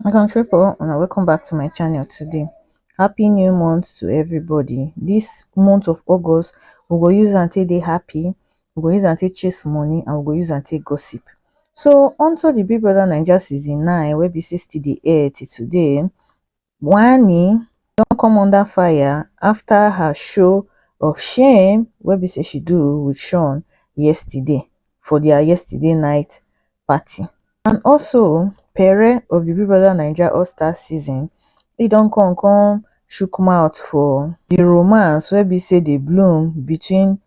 my country people and welcome back to my channel today happy new month to everybody this month of august we go use and take dey happy we go use and take chase money and we go use and take gossip so onto the big brother naija season 9 wey be 60 the air till today Wanni don come under fire after her show of shame wey be say she do with Sean yesterday for their yesterday night party and also Pere of the Big Brother Naija All Star season e don come come shook mouth for the romance wey be say dey bloom between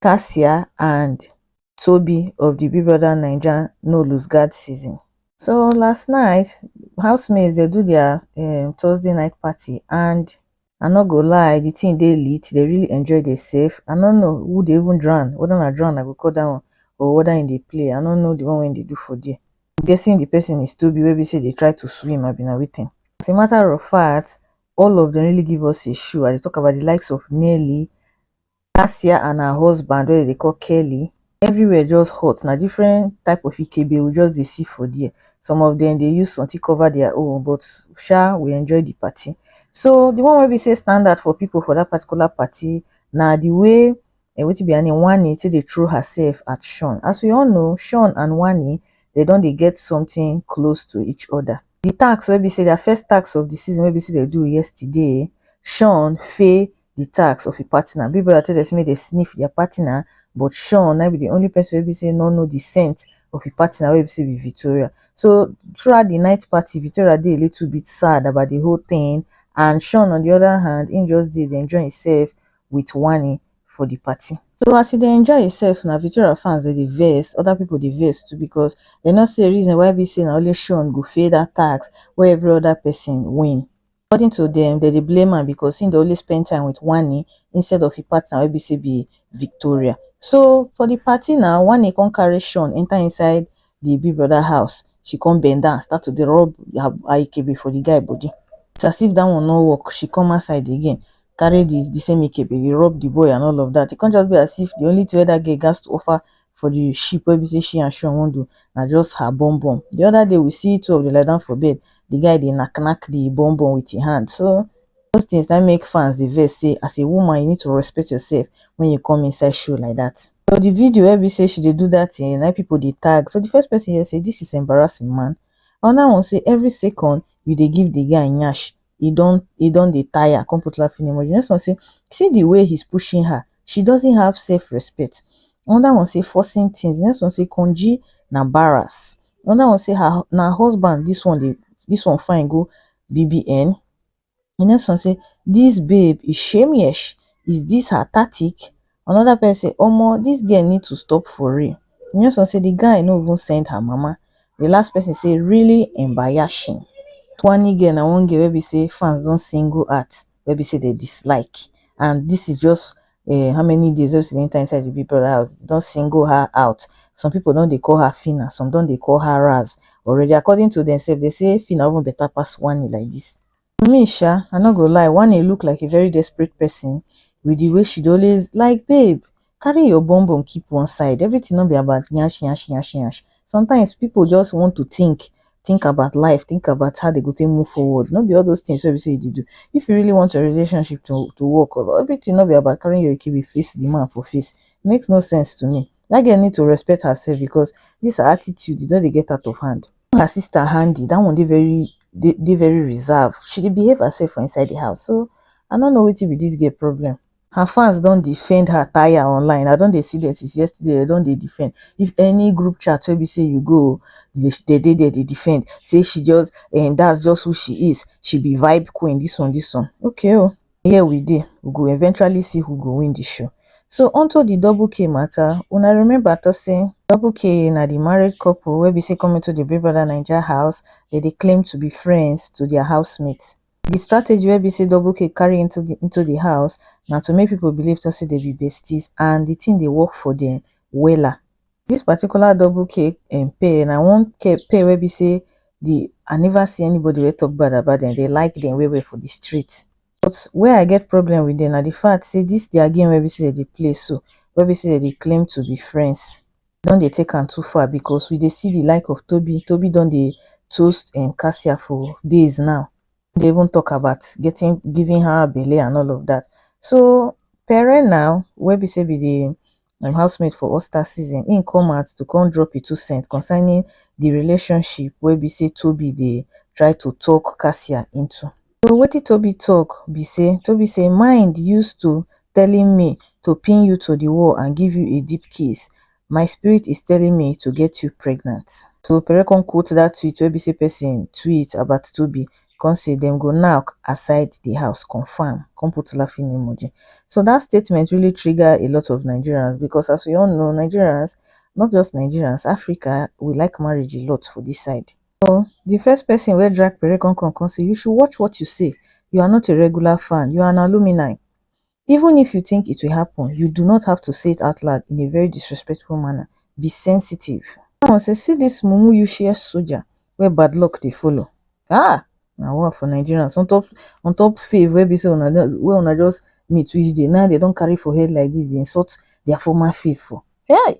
cassia and tobi of di big brother naija no lose guard season so last night house mates dey do their um thursday night party and i no go lie di thing dey lit dey really enjoy dey save i no know who dey even drown whether na drown i go call dat one or whether im dey play i no know di one wey im dey do for there I'm guessing di person is tobi wey be say dey try to swim abi na wetin as a matter of fact all of dem really give us a show i dey talk about di likes of nelly Kasia and her husband wey dem dey call Kelly, everywhere just hot. Na different type of ikebe we just dey see for there. Some of dem dey use something cover their own but sha we enjoy the party. So the one wey be say stand out for people for that particular party na the way um wetin be her name Wanni take dey throw herself at Shawn. As we all know Shawn and Wanni dem don dey get something close to each other. The task wey be say their first task of the season wey be say dem do yesterday, Shawn fail the tax of a partner. Big brother tell them say make they sniff their partner, but Sean na be the only person wey be say no know the scent of a partner wey be say be Victoria. So throughout the night party, Victoria dey a little bit sad about the whole thing, and Sean on the other hand, he just dey dey enjoy himself with Wani for the party. So as he dey enjoy himself na Victoria fans dey dey vex, other people dey vex too because they no see a reason why be say na only Sean go fail that tax wey every other person win. According to dem, dem dey blame am because he dey always spend time with Wanni instead of he partner wey be say be Victoria. So for the party na, Wanni come carry Sean enter inside the big brother house, she come bend down start to dey rub her Ikebe for the guy body. It's as if that one no work, she come outside again carry the same Ikebe dey rub the boy and all of that. He come just be as if the only thing wey that girl gats to offer for the sheep wey be say she and Sean wan do na just her bum bum. The other day we see two of the lie down for bed, the guy dey knack knack the bum bum with his hand. So those things that make fans the verse say as a woman you need to respect yourself when you come inside show like that. So the video where we say she dey do that thing, now people they tag. So the first person here say this is embarrassing man. Another one say every second you dey give the guy nyash he don he don dey tire come put laughing emoji the next one say see the way he's pushing her she doesn't have self respect another one say forcing things the next one say konji na barras another one say her na husband this one dey this one fine go bbn the next one say this babe is shameless is this her tactic Another person say, Omo, this girl need to stop for real. The next one say, The guy no even send her mama. The last person say, Really embayashing. Twani girl na one girl wey be say fans don single out, wey be say they dislike. And this is just uh, how many days wey she enter inside the Big Brother house. They don single her out. Some people don dey call her Fina, some don dey call her Raz already. According to themselves, they say Fina even better pass Wani like this. to me sha i no go lie wanni look like a very desperate person with the way she dey always like babe carry your bum bum keep one side everything no be about yansh yansh yansh yansh sometimes people just want to think think about life think about how dem go take move forward no be all those things wey be say you dey do if you really want your relationship to to work everything no be about carrying your ekebe face the man for face e makes no sense to me that girl need to respect herself because this her attitude e don dey get out of hand her sister handy that one dey very dey, dey very reserved she dey behave herself for inside the house so i no know wetin be this girl problem her fans don defend her tire online i don dey see them since yesterday they don dey defend if any group chat wey be say you go they they dey there dey defend say she just um that's just who she is she be vibe queen this one this one okay o here we dey we go eventually see who go win the show so unto the double k matter una remember to say double k na the married couple wey be say come into the big brother naija house they dey claim to be friends to their housemates the strategy wey be say double k carry into the into the house na to make people believe to say they be besties and the thing dey work for them wella this particular double cake um pay na one cake pay wey be say the i never see anybody wey talk bad about them they like them well well for the street but where i get problem with them na the fact say this their game wey be say dem dey play so wey be say dem dey claim to be friends don dey take am too far because we dey see the like of Tobi, Tobi don dey toast um Kasia for days now no dey even talk about getting giving her belle and all of that so Pere now wey be say be the im housemate for oscar season im come out to come drop im two cents concerning di relationship wey be say tobi dey try to talk cassia into so wetin tobi talk be say tobi say mind use to telling me to pin you to di wall and give you a deep kiss my spirit is telling me to get you pregnant. So Pere come quote dat tweet wey be say pesin tweet about tobi come say dem go nack aside di house confam come put laughing emoji so dat statement really trigger a lot of nigerians becos as we all know nigerians not just nigerians africa we like marriage a lot for dis side so di first pesin wey drag pere come come come say you should watch what you say you are not a regular fan you are an alumini even if you think it will happen you do not have to say it out loud in a very disrespectful manner be sensitive That one say see this mumu useless soldier wey bad luck dey follow ah na war for Nigerians on top on top fave wey be say una don wey una just meet which day now they don carry for head like this dey insult their former fave for hey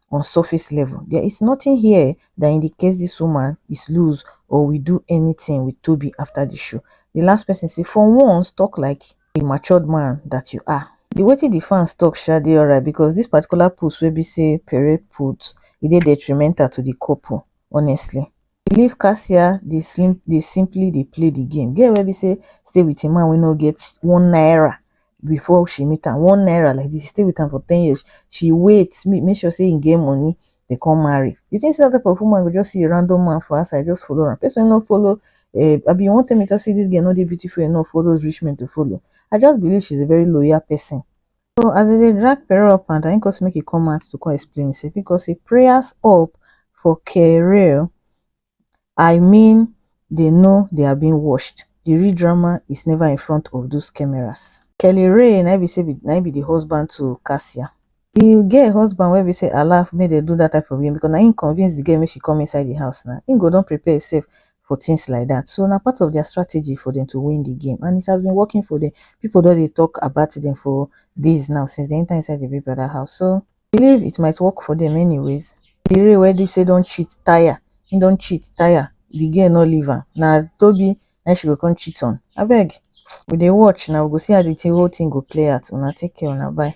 on surface level there is nothing here that indicates this woman is loose or will do anything with Toby after the show. The last person say, for once, talk like a matured man that you are. The way the fans talk sha dey alright because this particular post wey be say Pere put, e dey detrimental to the couple, honestly. she leave cassia dey slim dey simply dey play the game girl wey be say stay with a man wey no get one naira before she meet am one naira like this she stay with am for ten years she wait make make sure say he get money dey come marry you think say that type of woman go just see a random man for outside just follow am person wey no follow um abi you wan tell me talk say this girl no dey beautiful enough for all those rich men to follow I just believe she's a very loyal person so as dem dey drag Pero up and down him come say make he come out to come explain himself him come say prayers up for kerel I mean they know they are being watched the real drama is never in front of those cameras. Kellyrae na him be say na him be the husband to Cassia. The girl husband wey be say allow make dem do that type of game because na him convince the girl make she come inside the house na him go don prepare himself for things like that so na part of their strategy for them to win the game and it has been working for them people don dey talk about them for days now since they enter inside the big brother house so I believe it might work for them anyways the real where do say don't cheat tire he don't cheat tire the girl no leave am na tobi na she go come cheat on abeg we dey watch now we go see how the thing, whole thing go play out una take care una bye